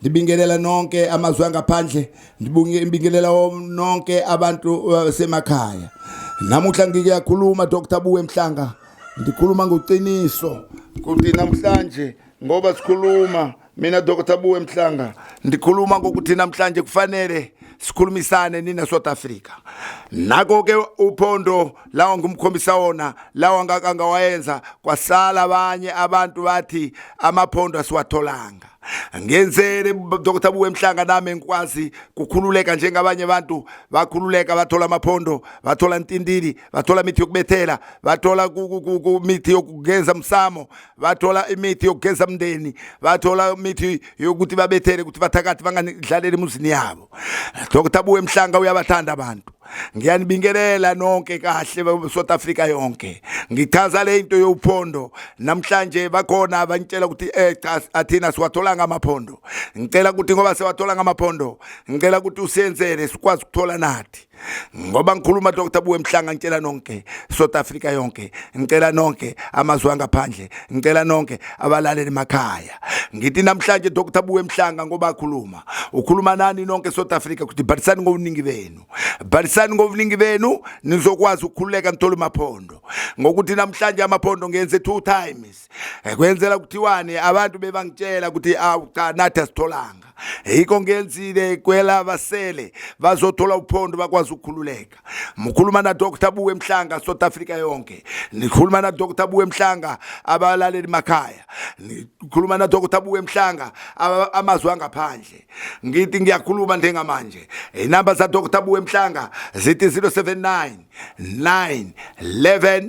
ndibingelela nonke amazwi angaphandle ndibingelela nonke abantu basemakhaya uh, namuhla ngikuyakhuluma dr buwe mhlanga ndikhuluma ngoqiniso kuthi namhlanje ngoba sikhuluma mina dr buwe mhlanga ndikhuluma ngokuthi namhlanje kufanele sikhulumisane nina South Africa nako ke uphondo lawa ngumkhombisa wona lawa ngaka ngawayenza kwasala abanye abantu bathi amaphondo asiwatholanga ngenzele Dr Buwe Mhlanga nami engikwazi kukhululeka njengabanye abantu bakhululeka bathola amaphondo bathola intindili bathola imithi yokubethela bathola imithi yokugeza umsamo bathola imithi yokugeza umndeni bathola imithi yokuthi babethele ukuthi bathakathi bangadlaleli emuzini yabo Dr Buwe Mhlanga uyabathanda abantu ngiyanibingelela nonke kahle South Africa yonke ngichaza le into yophondo namhlanje bakhona abangitshela ukuthi eh cha athina siwathola ngamaphondo ngicela ukuthi ngoba siwathola ngamaphondo ngicela ukuthi usenzele sikwazi ukuthola nathi ngoba ngikhuluma Dr Buwe Mhlanga ngitshela nonke South Africa yonke ngicela nonke amazwe angaphandle ngicela nonke abalaleli emakhaya ngithi namhlanje dr buwe mhlanga ngoba akhuluma ukhuluma nani nonke south africa kuthi bhalisani ngobuningi benu bhalisani ngobuningi benu nizokwazi ukukhululeka nithole amaphondo ngokuthi namhlanje amaphondo ngenze two times eh, kwenzela kuthiwani abantu bebangitshela ukuthi awu cha nathi asitholanga yikho ngenzile kwela basele bazothola uphondo bakwazi ukukhululeka mukhuluma na Dr Buwe Mhlanga South Africa yonke nikhuluma na Dr Buwe Mhlanga abalaleli makhaya nikhuluma na Dr Buwe Mhlanga amazwi angaphandle ngithi ngiyakhuluma njengamanje inamba za Dr Buwe Mhlanga zithi 079 9 11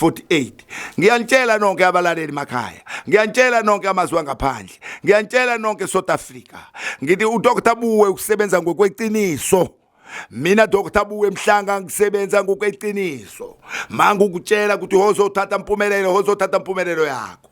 48 ngiyanitshela nonke abalaleli makhaya ngiyanitshela nonke amazwi angaphandle ngiyanitshela nonke South Africa ngithi uDr Buwe ukusebenza ngokweqiniso mina Dr Buwe Mhlanga ngisebenza ngokweqiniso mangukutshela ukuthi hozothatha impumelelo hozothatha impumelelo yakho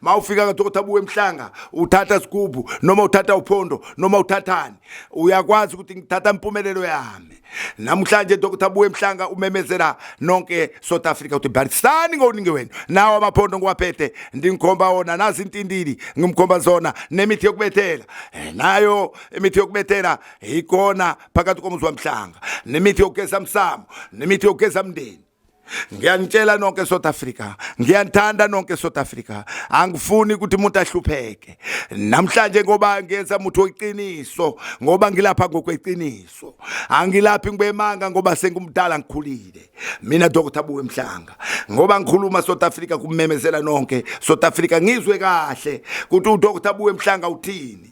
ma ufika ngathi ukuthi abuwe emhlanga uthatha sigubhu noma uthatha uphondo noma uthathani uyakwazi ukuthi ngithatha impumelelo yami namhlanje dokotha abuwe emhlanga umemezela nonke south africa ukuthi barisani ngokuningi wenu nawo amaphondo ngiwaphethe ndingikhomba wona nazi intindili ngimkhomba zona nemithi yokubethela eh, nayo imithi yokubethela ikona phakathi komuzi wamhlanga nemithi yokugeza msamo nemithi yokugeza mndeni ngiyanitshela nonke eSouth Africa ngiyanithanda nonke eSouth Africa angifuni ukuthi umuntu ahlupheke namhlanje ngoba ngenza umuntu weqiniso ngoba ngilapha ngokweqiniso angilaphi ngibemanga ngoba sengumdala ngikhulile mina Dr Buwe Mhlanga ngoba ngikhuluma South Africa kumemezela nonke South Africa ngizwe kahle ukuthi uDr Buwe Mhlanga uthini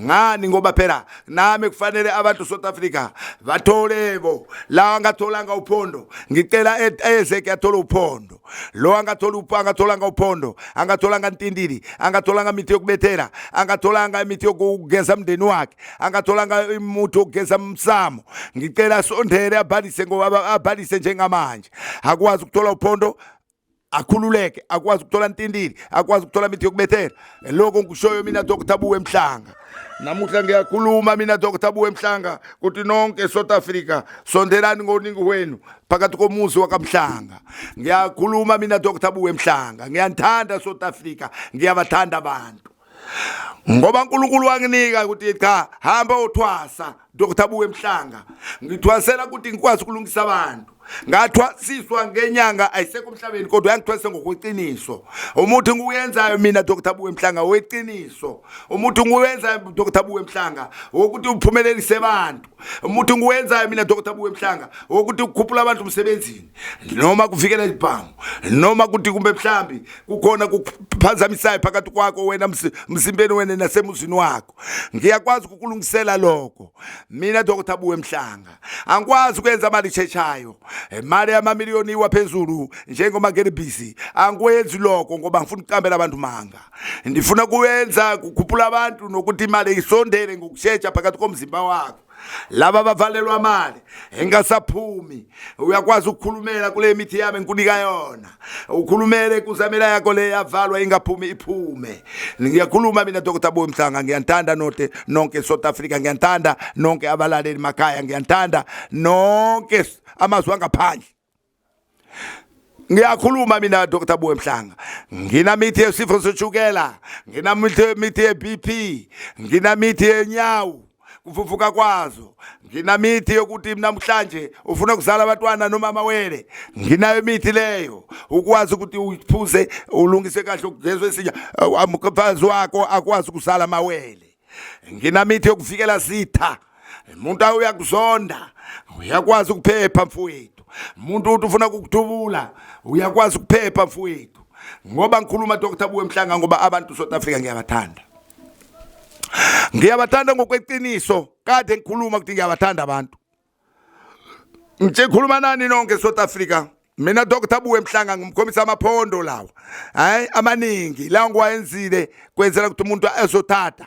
ngani ngoba phela nami kufanele abantu South Africa bathole bo la angatholanga uphondo ngicela e-, eze kuyathola uphondo lo angathola upho angatholanga uphondo angatholanga ntindili angatholanga imithi yokubethela angatholanga imithi yokugeza umndeni wakhe angatholanga imuthi yokugeza umsamo ngicela sondele abhalise ngoba abhalise njengamanje akwazi ukuthola uphondo akhululeke akwazi ukuthola ntindili akwazi ukuthola mithi yokubethela lokho ngikushoyo mina dr buwe mhlanga namuhla ngiyakhuluma mina dr buwe mhlanga kuthi nonke south africa sondelani ngoningi wenu phakathi komuzi wakamhlanga ngiyakhuluma mina dr buwe mhlanga ngiyanithanda south africa ngiyabathanda abantu ngoba uNkulunkulu wanginika ukuthi cha hamba uthwasa Dr Buwe Mhlanga ngithwasela ukuthi ngikwazi ukulungisa abantu ngathwasiswa ngenyanga ayisekho emhlabeni kodwa yangithwase ngokweqiniso umuntu nguyenzayo mina Dr Buwe Mhlanga weqiniso umuntu nguyenzayo Dr Buwe Mhlanga ukuthi uphumelelise abantu umuntu ngiwenzayo mina Dr. Buwe Mhlanga ukuthi ukukhuphula abantu umsebenzini noma kuvikela izibhamu noma kuthi kumbe mhlambi kukhona kuphazamisayo phakathi kwakho wena msimbeni wena nasemuzini wakho ngiyakwazi ukulungisela lokho mina Dr. Buwe Mhlanga angikwazi ukwenza imali echetshayo imali yamamiliyoni iwa phezulu njengoma ngene busy angikwenzi lokho ngoba ngifuna ukuqambela abantu manga ndifuna kuwenza kukhuphula abantu nokuthi imali isondele ngokushetsha phakathi komzimba wakho laba bavalelwa amali engasaphumi uyakwazi ukukhulumela kule mithi yami ngikunika yona ukhulumele kuzamela yakho le yavalwa ingaphumi iphume ngiyakhuluma mina dr boy mhlanga ngiyanthanda note nonke south africa ngiyanthanda nonke abalaleli makhaya ngiyanthanda nonke amazwi angaphandle ngiyakhuluma mina Dr Buwe Mhlanga nginamithi yesifo seshukela nginamithi ye-BP nginamithi yenyawo kufufuka kwazo nginamithi yokuthi namhlanje ufuna ukuzala abantwana noma amawele nginayo imithi leyo ukwazi ukuthi uphuze ulungise kahle ukugezwe isinya umfazi wakho akwazi ukuzala amawele nginamithi yokuvikela zitha umuntu uyakuzonda uyakwazi ukuphepha mfowethu umuntu uthi ufuna ukukuthubula uyakwazi ukuphepha mfowethu ngoba ngikhuluma Dr Buwe Mhlanga ngoba abantu South Africa ngiyabathanda ngiyabathanda ngokweqiniso kade ngikhuluma ukuthi ngiyabathanda abantu ngikhuluma nani nonke South Africa mina Dr Buwe Mhlanga ngimkhombisa amaphondo lawa hayi amaningi lawo ngiwayenzile kwenzela ukuthi umuntu azothatha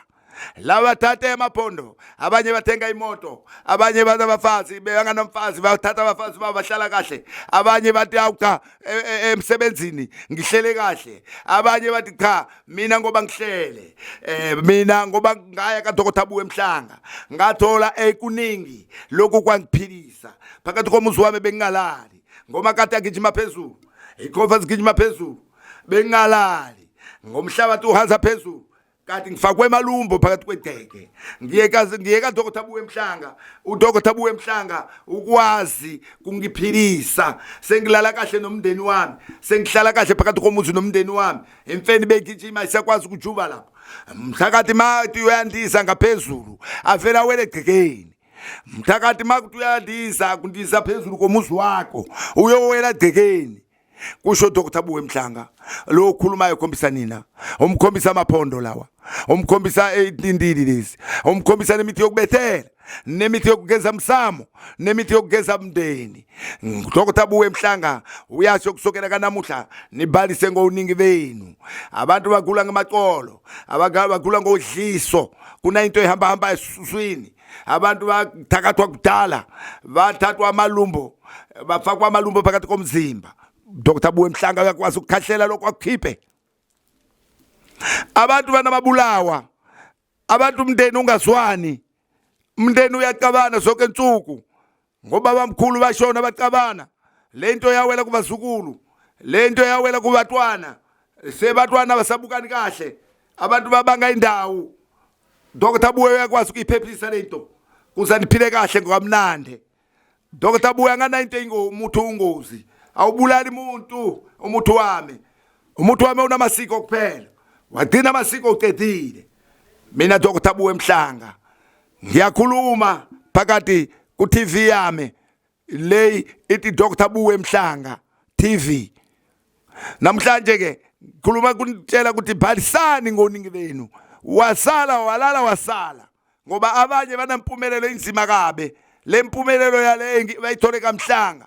laba thatha emaphondo abanye bathenga imoto abanye bathi abafazi beyanganomfazi bathatha abafazi babo bahlala kahle abanye bathi awucha e, e, emsebenzini ngihlele kahle abanye bathi cha mina ngoba ngihlele eh mina ngoba ngaya kadokotha abuwe emhlanga ngathola ekuningi lokhu kwangiphilisa phakathi komuzi wami bengingalali ngoma kade agijima phezulu ikhova zigijima phezulu bengingalali ngomhlabathi uhansa phezulu kanti ngifakwe emalumbo phakathi kwedeke ngiye kazi ngiye ka dokotha buwe emhlanga udokotha buwe emhlanga ukwazi kungiphilisa sengilala kahle nomndeni wami sengihlala kahle phakathi komuzi nomndeni wami imfeni begijima isakwazi ukujuba lapho mthakathi mati uyandisa ngaphezulu avela wele gcekeni mthakathi makuthi uyandisa kundiza phezulu komuzi wakho uyowela gcekeni kusho Dr Buwe Mhlanga lo okhulumayo khombisa nina umkhombisa amaphondo lawa umkhombisa intindili lezi umkhombisa nemithi yokubethela nemithi yokugeza msamo nemithi yokugeza mndeni Dr Buwe Mhlanga uyasho kusukela kanamuhla nibalise ngowuningi benu abantu bagula ngemacolo abagala bagula ngodliso kunayinto ehamba hamba esiswini abantu bathakathwa kudala bathathwa amalumbo bafakwa amalumbo phakathi komzimba dr buwe mhlanga uyakwazi ukukhahlela lokho akukhiphe abantu banababulawa abantu umndeni ungazwani umndeni uyacabana zonke insuku ngobabamkhulu bashona bacabana le nto yawela kubazukulu le nto yawela kubatwana sebatwana basabukani kahle abantu babanga indawo Dr Buya uyakwazi ukuyiphephisa le nto kuze niphile kahle ngokamnandi Dr Buya ngana into engomuthi ungozi awubulali umuntu umuthi wami umuthi wami unamasiko kuphela wagcina amasiko ucedile mina Dr Buya emhlanga ngiyakhuluma phakathi ku TV yami le ithi Dr Buwe Mhlanga TV namhlanje ke khuluma kunitshela ukuthi bhalisani ngoningi benu wasala walala wasala ngoba abanye banampumelelo inzima kabe lempumelelo yale bayithole kamhlanga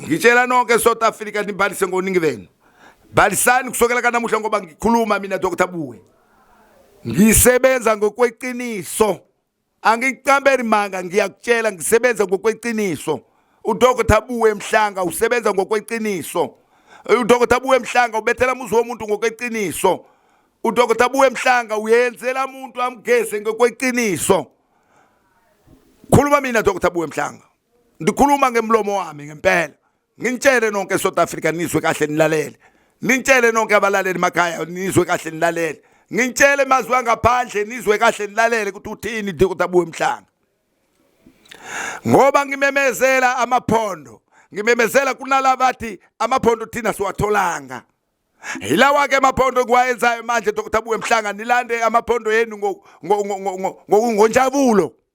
ngitshela nonke south africa nibhalise ngoningi benu bhalisani kusukela kanamuhla ngoba ngikhuluma mina dr buwe ngisebenza ngokweqiniso angikucambeli manga ngiyakutshela ngisebenza ngokweqiniso udr buwe mhlanga usebenza ngokweqiniso udr buwe mhlanga ubethela muzi womuntu ngokweqiniso udr buwe mhlanga uyenzela muntu amgeze ngokweqiniso khuluma mina dr buwe mhlanga ndikhuluma ngemlomo wami ngempela nginitshele nonke south africa nizwe kahle nilalele nintshele nonke abalaleli makhaya nizwe kahle nilalele ngintshele emazwi angaphandle nizwe kahle nilalele ukuthi uthini dr buwe mhlanga ngoba ngimemezela amaphondo ngimemezela kunala bathi amaphondo thina siwatholanga hilawa ke amaphondo okuwayenzayo manje dr buwe mhlanga nilande amaphondo yenu ngokungonjabulo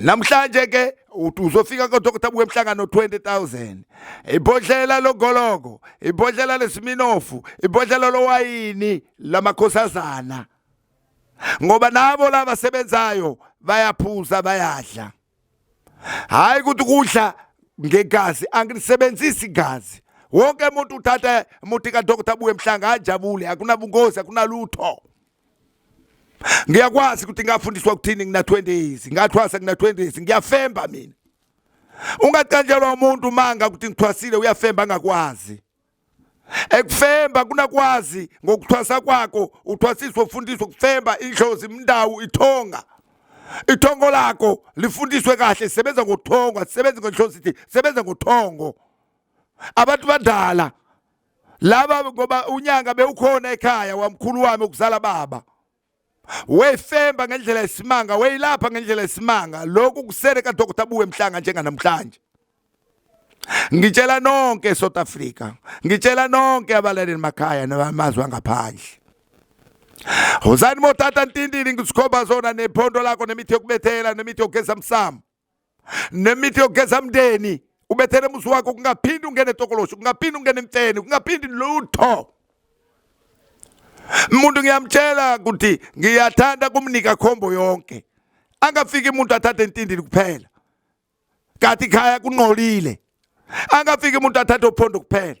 namhlanje ke uzofika kodokotha buke emhlangano 20000 ibhodlela logoloko ibhodlela lesiminofu ibhodlela lowayini lamakhosazana ngoba nabo laba sebenzayo bayaphuza bayadla hayi ukuthi kudla ngegazi angilisebenzisi igazi wonke umuntu uthatha umuthi kadokotha abuye emhlanga ajabule akunabungozi akunalutho ngiyakwazi ukuthi ngafundiswa ukuthini ngina 20 years ngathwasa ngina 20 years ngiyafemba mina ungacanjelwa umuntu manga ukuthi ngithwasile uyafemba angakwazi ekufemba kunakwazi ngokuthwasa kwakho uthwasiswa ufundiswa ukufemba indlozi imndawu ithonga ithongo lakho lifundiswe kahle sebenza ngothongo asisebenzi ngenhloso ithi sebenza ngothongo abantu badala laba ngoba unyanga bewukhona ekhaya wamkhulu wami ukuzala baba weyifemba ngendlela yesimanga weyilapha ngendlela yesimanga lokhu kusele kadokotela buwe mhlanga njenganamhlanje ngitshela nonke eSouth Africa ngitshela nonke abalaleli makhaya namazwe angaphandle Hozani motata ntindini ngisikhomba zona nephondo lakho nemithi yokubethela nemithi yokugeza msamo nemithi yokugeza mndeni ubethele muzi wakho kungaphindi ungene tokoloshi kungaphindi ungene mfeni kungaphindi lutho umuntu ngiyamtshela ukuthi ngiyathanda kumnika khombo yonke angafiki umuntu athathe intindini kuphela kati khaya kunqolile angafiki umuntu athathe uphondo kuphela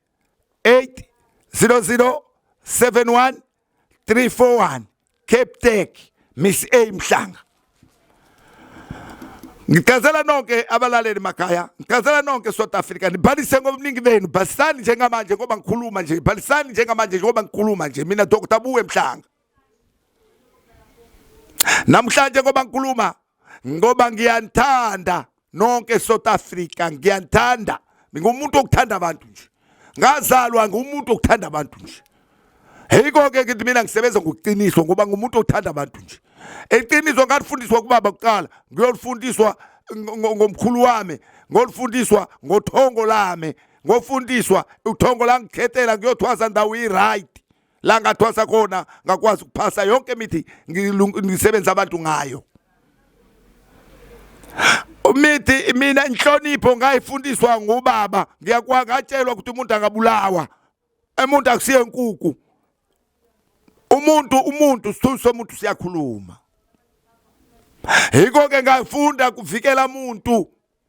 800 71 341 Cape Tech Miss A Mhlanga Ngicazela nonke abalaleli makhaya, ngicazela nonke South Africa, nibhalise ngobuningi benu, bhalisani njengamanje ngoba ngikhuluma nje, bhalisani njengamanje ngoba ngikhuluma nje, mina Dr. Buwe Mhlanga. namhlanje ngoba ngikhuluma ngoba ngiyanithanda nonke South Africa ngiyanithanda ngingumuntu okuthanda abantu nje ngazalwa ngumuntu okuthanda abantu nje Heyiko ke ngithi mina ngisebenza ngokuqiniswa ngoba ngumuntu othanda abantu nje. Eqiniso ngalifundiswa kubaba kuqala, ngiyolifundiswa ngomkhulu wami, ngolifundiswa ngothongo lami, ngofundiswa uthongo langikhetela kuyothwaza ndawo i-right. la ngathwasa khona ngakwazi ukuphasa yonke imithi ngisebenza abantu ngayo umithi mina inhlonipho ngayifundiswa ngubaba ngiyakwa ngatshelwa ukuthi umuntu angabulawa umuntu akusiye inkuku umuntu umuntu sithunzi somuntu siyakhuluma yiko ke ngafunda kuvikela umuntu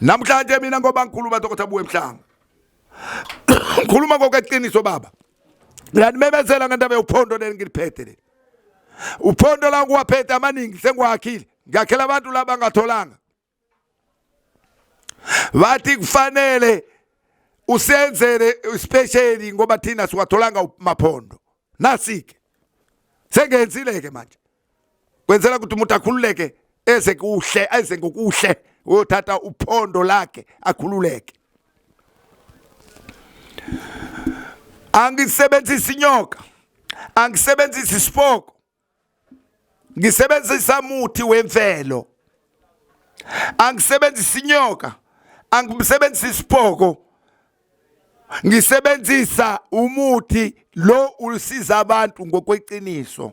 namhlanje mina ngoba ngikhuluma dokotha buwe mhlanga ngikhuluma ngokweqiniso baba ngiyanimemezela ngendaba yophondo leli ngiliphethe leli uphondo la ngiwaphethe amaningi sengiwakhile ngiyakhela abantu laba ngatholanga wathi kufanele usenzele isipesheli ngoba thina siwatholanga maphondo nasike sengenzile-ke manje kwenzela ukuthi umuntu akhululeke eze kuhle eze ngokuhle uyothatha uphondo lakhe akhululeke angisebenzisi inyoka angisebenzisi isipoko ngisebenzisa muthi wemvelo angisebenzisi inyoka angisebenzisi isipoko ngisebenzisa umuthi lo ulisiza abantu ngokweqiniso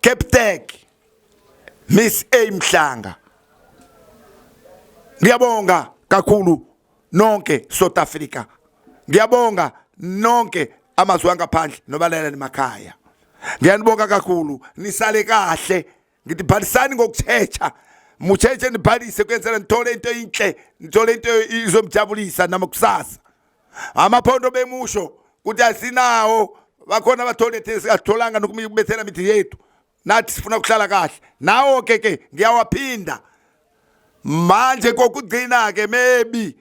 Captain Miss A Mhlanga Ngiyabonga kakhulu nonke South Africa Ngiyabonga nonke amazwe angaphandle nobaleleni makhaya Ngiyanibonga kakhulu nisale kahle ngithi phalisani ngokuthetha muthethe nibhalise kuyenzela nithole into enhle nithole into izomjabulisa namakusasa amaphondo bemusho ukuthi asinawo bakhona abathole singatholanga nokumibethela mithi yethu nathi sifuna ukuhlala kahle nawo ke ke ngiyawaphinda manje kokugcina ke maybe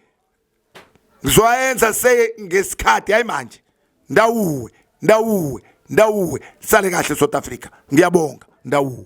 ngizoyenza se ngesikhathi hayi manje ndawuwe ndawuwe ndawuwe sale kahle South Africa ngiyabonga ndawuwe